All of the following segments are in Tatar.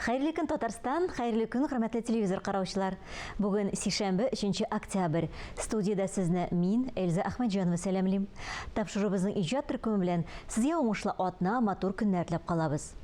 Хәерле көн, Татарстан! Хәерле көн, хөрмәтле телевизор караучылар! Бүген сишәмбе, 3 октябрь. Студиядә сезне мин, Эльза Әхмәтҗанова сәламлим. Тапшырубызның иҗат төркеме белән сезгә уңышлы атна, матур көннәр теләп калабыз.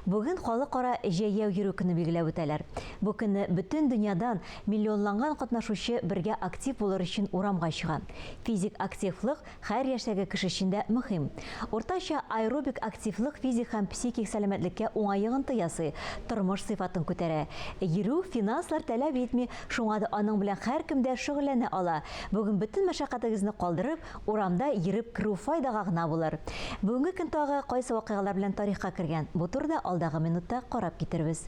Бүген халыкара җәяү йөрү көне билгеләп үтәләр. Бу көнне бөтен дөньядан миллионланган катнашучы бергә актив булыр өчен урамга чыга. Физик активлык Хәер яшьтәге кеше өчен дә мөһим. Уртача аэробик активлык физик һәм психик сәламәтлеккә уңай йогынты ясый, тормыш сыйфатын күтәрә. Йөрү финанслар таләп итми, шуңа да аның белән һәркем дә шөгыльләнә ала. Бүген бөтен мәшәкатегезне калдырып, урамда йөреп керү файдага гына булыр. Бүгенге көн тагы кайсы вакыйгалар белән тарихка кергән, бу турыда алдагы минутта карап китербез.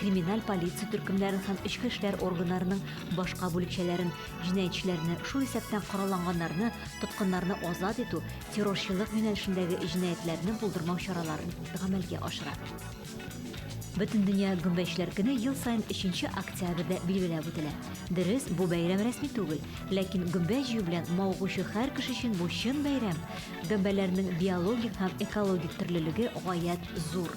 криминаль полиция төркемнәрен һәм эчке эшләр органнарының башка бүлекчәләрен, җинаятьчеләрне, шул исәптән коралланганнарны, тоткыннарны азат итү, террорчылык юнәлешендәге җинаятьләрне булдырмау чараларын гамәлгә ашыра. Бөтендөнья гөмбәчләр көне ел саен 3 октябрьдә билгеләп үтелә. Дөрес, бу бәйрәм рәсми түгел, ләкин гөмбә җыю белән мавыгучы һәр кеше өчен бу чын бәйрәм. Гөмбәләрнең биологик һәм экологик төрлелеге гаять зур.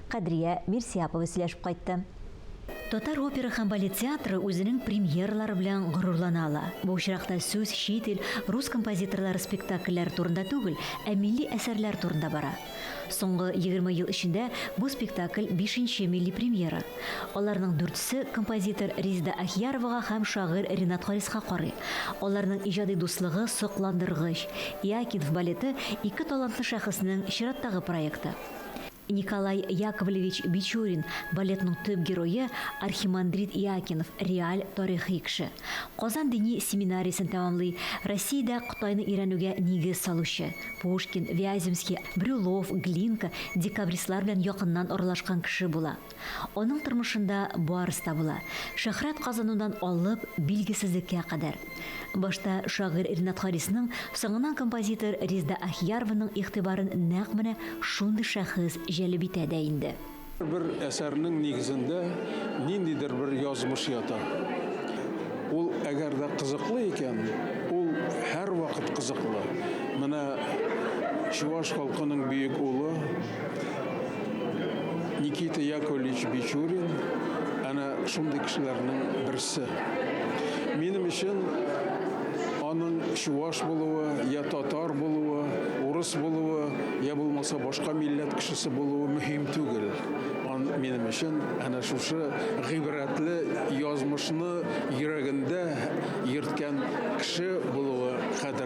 Кадрия Мирсиапова сөйләшеп кайтты. Татар опера һәм балет театры үзенең премьералары белән горурлана ала. Бу очракта сүз чит ил, рус композиторлары спектакльләре турында түгел, ә милли әсәрләр турында бара. Соңгы егерме ел эчендә бу спектакль бишенче милли премьера. Аларның дүртесе композитор Резеда Ахияровага һәм шагыйрь Ренат Хариска карый. Аларның иҗади дуслыгы сокландыргыч. Иакинф балеты, ике талантлы шәхеснең чираттагы проекты. Николай Яковлевич Бичурин, балетның төп герое, архимандрит Иоакинов, реаль тарихи кеше. Казан дини семинариясен тәмамлый, Россиядә Кытайны өйрәнүгә нигез салучы. Пушкин, Вяземский, Брюлов, Глинка, декабристлар белән якыннан аралашкан кеше була. Аның тормышында барысы да була, шөһрәт казанудан алып, билгесезлеккә кадәр. Башта шагыйрь Ринат Харисның, соңыннан композитор Резда Ахиярованың игътибарын нәкъ менә шундый шәхес җәлеп итә дә инде. Һәрбер әсәрнең нигезендә ниндидер бер язмыш ята. Ул әгәр дә кызыклы икән, ул һәрвакыт кызыклы. Менә чуваш халкының бөек улы. Никита Яковлевич Бичурин әнә шундый кешеләрнең берсе. Минем өчен аның чуваш булуы, я татар булуы, урыс булуы, я булмаса башка милләт кешесе булуы мөһим түгел. Ан минем өчен әнә шушы гыйбрәтле язмышны йөрәгендә йөрткән кеше булуы кадер.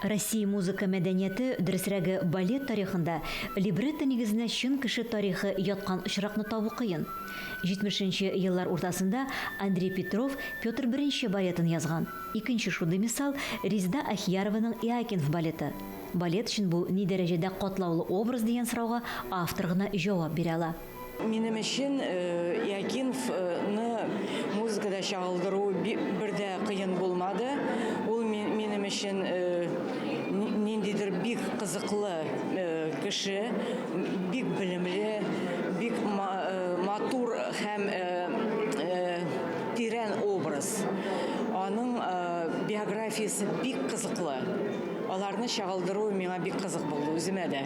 Россия музыка мәдәнияте, дөресрәге, балет тарихында либретто нигезенә чын кеше тарихы яткан очракны табу кыен. Җитмешенче еллар уртасында Андрей Петров Петр I балетын язган. Икенче шундый мисал, Резеда Ахьярованың Иоакинф балеты. Балет өчен бу ни дәрәҗәдә катлаулы образ дигән сорауга автор гына җавап бирә ала. Минем өчен Якинф ны музыкада чагылдыру бер дә кыен булмады. Ул минем өчен ниндидер бик кызыклы кеше, бик белемле, бик матур һәм тирән образ. Аның биографиясе бик кызыклы. Аларны чагылдыру миңа бик кызык булды, үземә дә.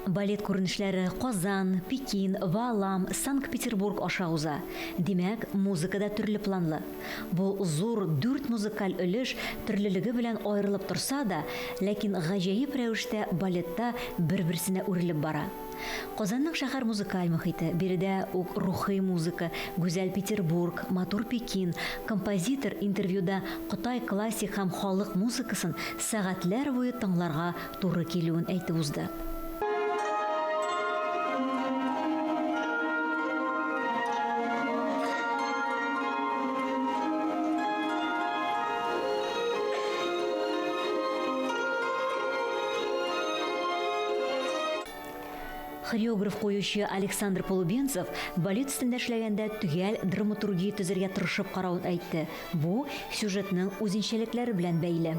Балет күренешләре Казан, Пекин, Ваалам, Санкт-Петербург аша уза. Димәк, музыка да төрле планлы. Бу зур дүрт музыкаль өлеш төрлелеге белән аерылып торса да, ләкин гаҗәеп рәвештә балетта бер-берсенә үрелеп бара. Казанның шәһәр музыкаль мохите, биредә үк рухи музыка, гүзәл Петербург, матур Пекин, композитор интервьюда Кытай классик һәм халык музыкасын сәгатьләр буе тыңларга туры килүен әйтеп узды. хореограф куючы Александр Полубенцев балет өстендә эшләгәндә төгәл драматургия төзергә тырышып каравын әйтте. Бу сюжетның үзенчәлекләре белән бәйле.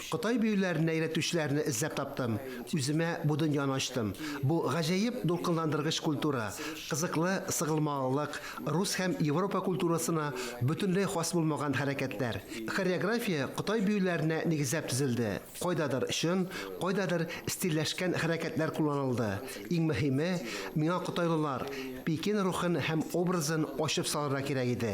Кытай биюләренә өйрәтүчеләрне эзләп таптым, үземә бу дөньяны ачтым. Бу гаҗәеп дулкынландыргыч культура, кызыклы сыгылмалылык, рус һәм Европа культурасына бөтенләй хас булмаган хәрәкәтләр. Хореография Кытай биюләренә нигезләп төзелде, кайдадыр чын, кайдадыр стильләшкән хәрәкәтләр кулланылды. Иң мөһиме, миңа кытайлылар, Пекин рухын һәм образын ачып салырга кирәк иде.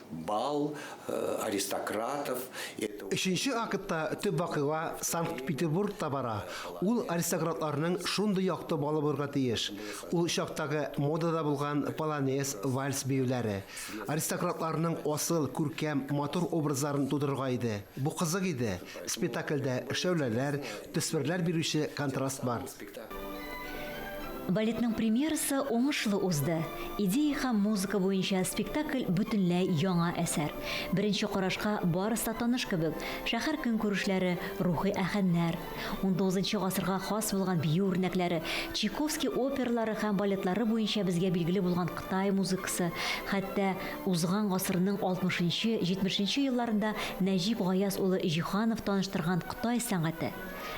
Бал, аристократов, это. Өченче актта төп вакыйга Санкт-Петербургта бара, ул аристократларның шундый якты балы булырга тиеш, ул чактагы модада булган полонез, вальс биюләре. Аристократларның асыл, күркәм, матур образларын тудырырга иде. Бу кызык иде. Спетакльдә шәүләләр, төсмерләр бирүче контраст бар. Балетның премьерасы уңышлы узды. Идея һәм музыка буенча спектакль бөтенләй яңа әсәр. Беренче карашка барысы да таныш кебек, шәһәр көнкүрешләре, рухи аһәңнәр, унтугызынчы гасырга хас булган бию үрнәкләре, Чайковский опералары һәм балетлары буенча безгә билгеле булган Кытай музыкасы, хәтта узган гасырның алтмышынчы, җитмешенче елларында Нәҗип Гаяз улы Җиһанов таныштырган Кытай сәнгате.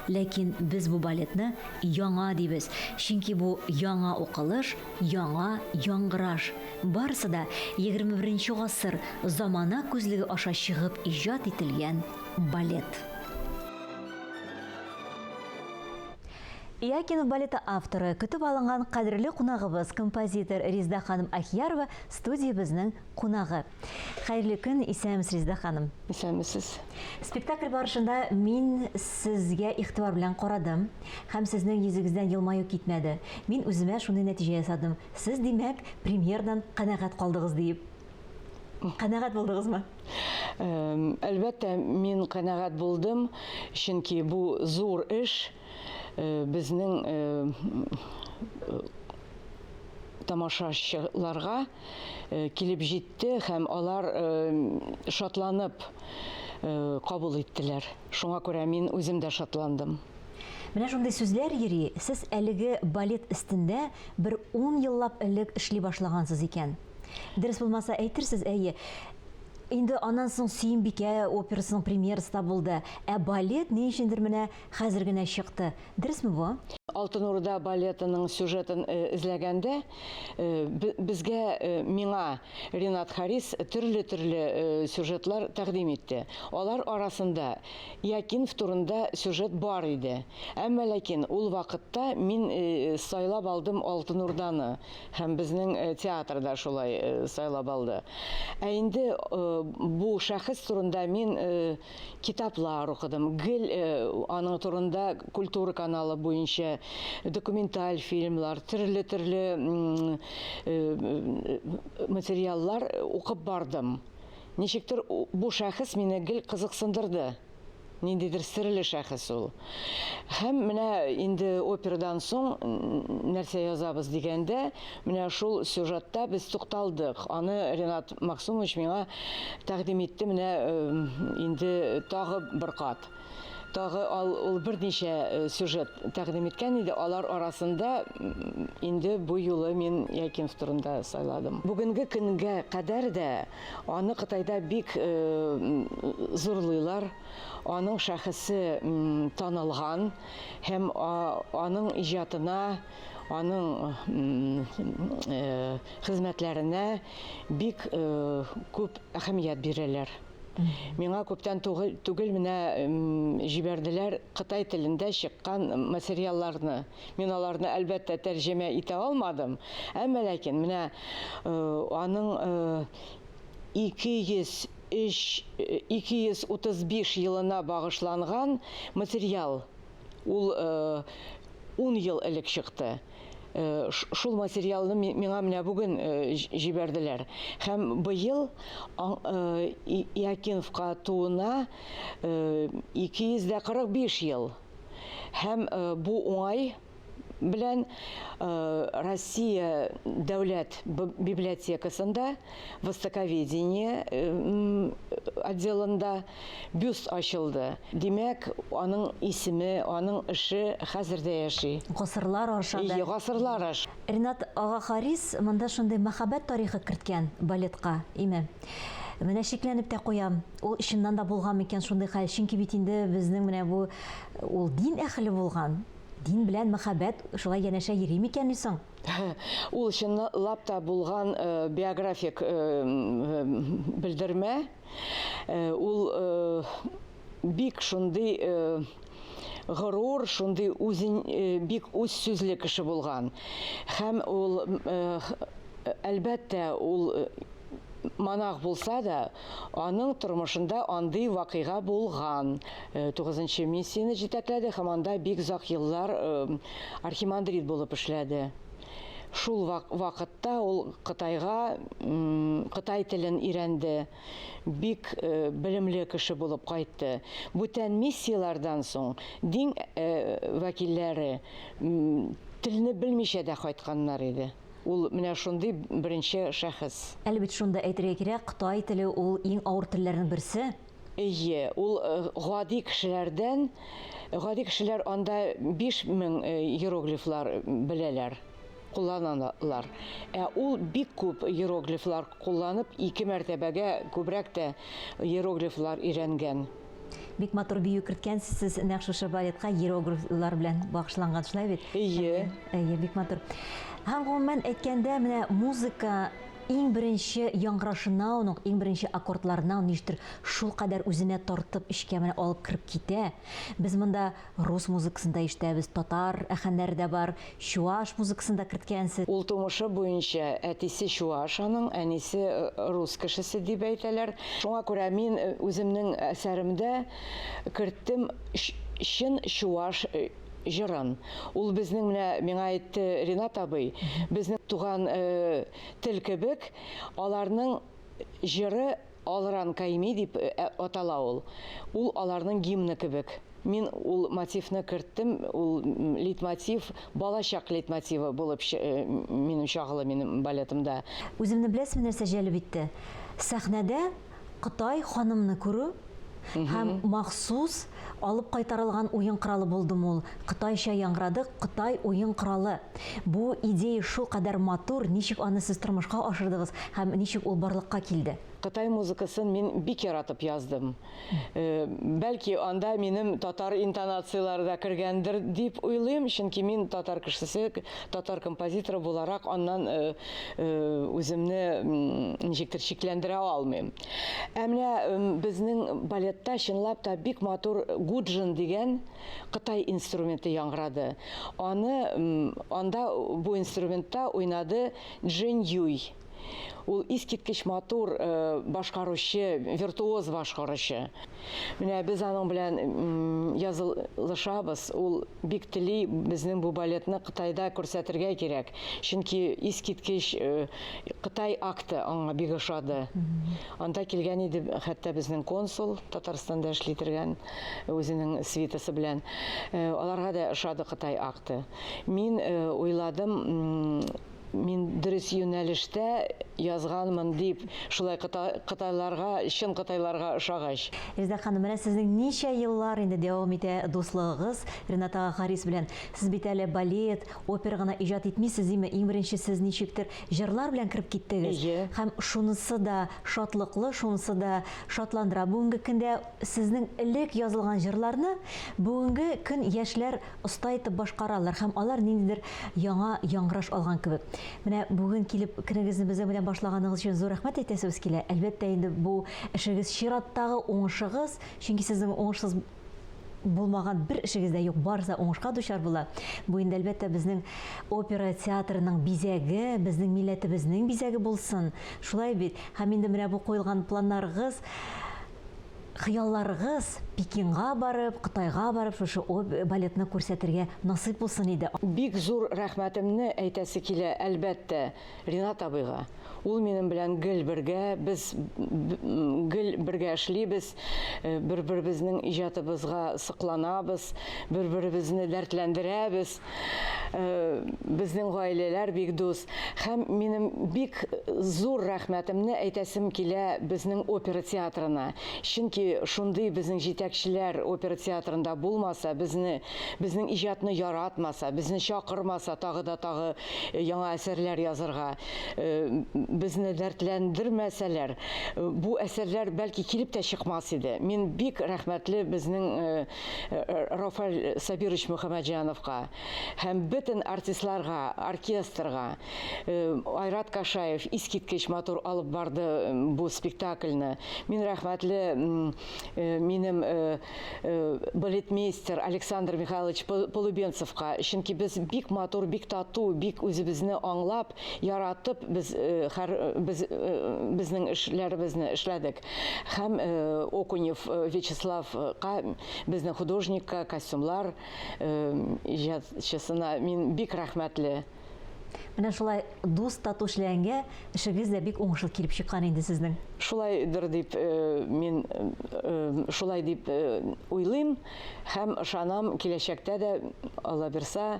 Ләкин без бу балетны яңа дибез, чөнки бу яңа укылыш, яңа яңгыраш. Барысы да егерме беренче гасыр замана күзлеге аша чыгып иҗат ителгән балет. Иакинов балеты авторы, көтеп алынган кадерле кунагыбыз, композитор Резда ханым Ахиярова студиябезнең кунагы. Хәерле көн, исәнмесез, Резеда ханым. Исәнмесез. Спектакль барышында мин сезгә игътибар белән карадым һәм сезнең йөзегездән елмаю китмәде. Мин үземә шундый нәтиҗә ясадым. Сез, димәк, премьердан канәгать калдыгыз диеп. Канәгать булдыгызмы? Әлбәттә, мин канәгать булдым, чөнки бу зур эш. безнең тамашачыларга килеп җитте һәм алар шатланып кабул иттеләр. Шуңа күрә мин үзем дә шатландым. Менә шундый сүзләр йөри, сез әлеге балет өстендә бер ун еллап элек эшли башлагансыз икән. Дөрес булмаса әйтерсез, әйе. Инде аннан соң Сөембикә операсының премьерасы да булды. Ә балет ни өчендер менә Хәзер генә чыкты. Дөресме бу? Алтын Урда балетының сюжетын эзләгәндә, безгә, миңа Ринат Харис төрле-төрле сюжетлар тәкъдим итте. Алар арасында Якинф турында сюжет бар иде. Әмма ләкин ул вакытта мин сайлап алдым Алтын Урданы һәм безнең театр да шулай сайлап алды. Ә инде бу шәхес турында мин китаплар укыдым. Гел э, аның турында культура каналы буенча документаль фильмлар, төрле-төрле э, материаллар укып бардым. Ничектер бу шәхес мине гел кызыксындырды. Ниндидер серле шәхес ул. Һәм менә инде операдан соң нәрсә язабыз дигәндә, Менә шул сюжетта без тукталдык. Аны Ренат Максумович миңа тәкъдим итте менә инде тагы бер кат. Тагы ал, ул берничә сюжет тәкъдим иткән иде. Алар арасында инде бу юлы мин Якимов турында сайладым. Бүгенге көнгә кадәр дә аны Кытайда бик зурлыйлар. Аның шәхесе танылган һәм аның иҗатына Аның хезмәтләренә бик күп әһәмият бирәләр. Миңа күптән түгел менә җибәрделәр кытай телендә чыккан материалларны. Мин аларны, әлбәттә, тәрҗемә итә алмадым, әмма ләкин менә аның 203 235 елына багышланган материал Ул ун ел элек чыкты. Шул материалны миңа менә бүген җибәрделәр. Һәм быел Иокиновка тууына 245 ел. Һәм бу уңай белән Россия дәүләт библиотекасында, Востоковедение отделында, Бюст ачылды. Димәк, аның исеме, аның эше хәзер дә яши. Гасырлар аша да. Гасырлар аш. Ринат ага Харис монда шундый мәхәббәт тарихы керткән балетка, име? Менә шикләнеп тә куям, ул чыннан да булган микән шундый хәл, чөнки бит инде безнең менә бу, ул дин әһеле булган, дин белән мәхәббәт шулай янәшә йөри микәнни соң? Ул чынлап та булган биографик белдермә. Э, ул э, бик шундый э, горур, шундый үзен бик үз сүзле кеше булган. Һәм ул әлбәттә ул монах булса да, аның тормышында андый вакыйга булган. 9-нчы миссияне җитәкләде һәм анда бик озак еллар архимандрит булып эшләде. Шул вакытта ул Кытайга кытай телен өйрәнде, бик белемле кеше булып кайтты. Бүтән миссияләрдән соң дин вәкилләре телне белмичә дә кайтканнар иде. Ул менә шундый беренче шәхес. Әле бит шунда әйтергә кирәк, кытай теле ул иң авыр телләрнең берсе. Әйе, ул э, гади кешеләрдән, гади кешеләр анда 5000 э, иероглифлар беләләр, кулланалар. Ә ул бик күп иероглифлар кулланып, ике мәртәбәгә күбрәк тә иероглифлар өйрәнгән. Бик матур бию керткәнсез сез нәкъ шушы балетка иероглифлар белән багышланган, шулай бит? Әйе. Әйе, бик матур. Һәм гомумән әйткәндә, менә музыка Иң беренче яңгырашынауын ук, иң беренче аккордларынауын ништер шулкадәр үзенә тартып, эчкә менә алып кереп китә. Без монда рус музыкасын да ишетәбез, татар әхәннәре дә бар, чуаш музыкасын да керткәнсез. Ул тумышы буенча әтисе чуаш аның, әнисе рус кешесе дип әйтәләр. Шуңа күрә мин үземнең әсәремдә керттем чын чуаш җырын. Ул безнең менә миңа әйтте Ринат абый, безнең туган тел кебек, аларның җыры Алран Кайми дип атала ул. Ул аларның гимны кебек. Мин ул мотивны керттем, ул лейтмотив, балачак лейтмотивы булып минем чагылы минем балетымда. Үземне беләсеме нәрсә җәлеп итте? Сәхнәдә Кытай ханымны күрү һәм махсус алып кайтарылган уен коралы булдымы ул? Кытайча яңгырады, Кытай уен коралы. Бу идея шулкадәр матур, ничек аны сез тормышка ашырдыгыз һәм ничек ул барлыкка килде? Кытай музыкасын мин бик яратып яздым. Бәлки, анда минем татар интонацияләре дә кергәндер дип уйлыйм, чөнки мин татар кешесе, татар композиторы буларак аннан үземне ничектер шикләндерә алмыйм. Ә менә безнең балетта чынлап та бик матур гуджин дигән кытай инструменты яңгырады. Аны анда бу инструментта уйнады Джин Юй. Ул искиткеч матур башкаручы, виртуоз башкаручы. Менә без аның белән язылышабыз. Ул бик тели безнең бу балетны Кытайда күрсәтергә кирәк. Чөнки искиткеч э, Кытай акты аңа бик ошады. Анда килгән иде хәтта безнең консул Татарстанда эшли торган үзенең свитасы белән. Э, аларга да ошады Кытай акты. Мин э, уйладым, мин дөрес юнәлештә язганмын дип, шулай кытайларга, чын кытайларга ошагач. Резедә ханым, менә сезнең ничә еллар инде дәвам итә дуслыгыгыз Рената Харис белән. Сез бит әле балет, опера гына иҗат итмисез, диме? Иң беренче сез ничектер җырлар белән кереп киттегез. Һәм шунысы да шатлыклы, шунысы да шатландыра. Бүгенге көндә сезнең элек язылган җырларны бүгенге көн яшьләр оста итеп башкаралар һәм алар ниндидер яңа яңгыраш алган кебек. Менә бүген килеп көнегезне безнең белән башлаганыгыз өчен зур рәхмәт әйтәсебез килә. Әлбәттә, инде бу эшегез чираттагы уңышыгыз, чөнки сезнең уңышсыз булмаган бер эшегез дә юк, барысы да уңышка дучар була. Бу инде, әлбәттә, безнең опера театрының бизәге, безнең милләтебезнең бизәге булсын. Шулай бит? Һәм инде менә бу куелган планнарыгыз Хыялларыгыз Пекинга барып, Кытайга барып шушы оп балетны күрсәтергә насыйп булсын иде. Бик зур рәхмәтемне әйтәсе килә, әлбәттә, Ринат абыйга. Ул минем белән гел бергә, без гел бергә эшлибез, бер-беребезнең иҗатыбызга сокланабыз, бер-беребезне дәртләндерәбез. безнең гаиләләр бик дус. Һәм минем бик зур рәхмәтемне әйтәсем килә безнең опера театрына. Чөнки шундый безнең җитәкчеләр опера театрында булмаса, безне, безнең иҗатны яратмаса, безне чакырмаса тагы да тагы яңа әсәрләр язырга, безне дәртләндермәсәләр, бу әсәрләр, бәлки, килеп тә чыкмас иде. Мин бик рәхмәтле безнең Рафаль Сабирович Мөхәммәтҗановка һәм бөтен артистларга, оркестрга. Айрат Кашаев искиткеч матур алып барды бу спектакльне. Мин рәхмәтле минем балетмейстер Александр Михайлович Полубенцевка, чөнки без бик матур, бик тату, бик үзебезне аңлап, Яратып без хәр без безнең эшләребезне эшләдек. Һәм Окунев Вячеславка, безнең художникка, костюмлар иҗатчысына мин бик рәхмәтле. Менә шулай дус тату эшләгәнгә эшегез дә бик уңышлы килеп чыккан инде сезнең. Шулайдыр дип мин шулай дип уйлыйм һәм ышанам, киләчәктә дә Аллабирса,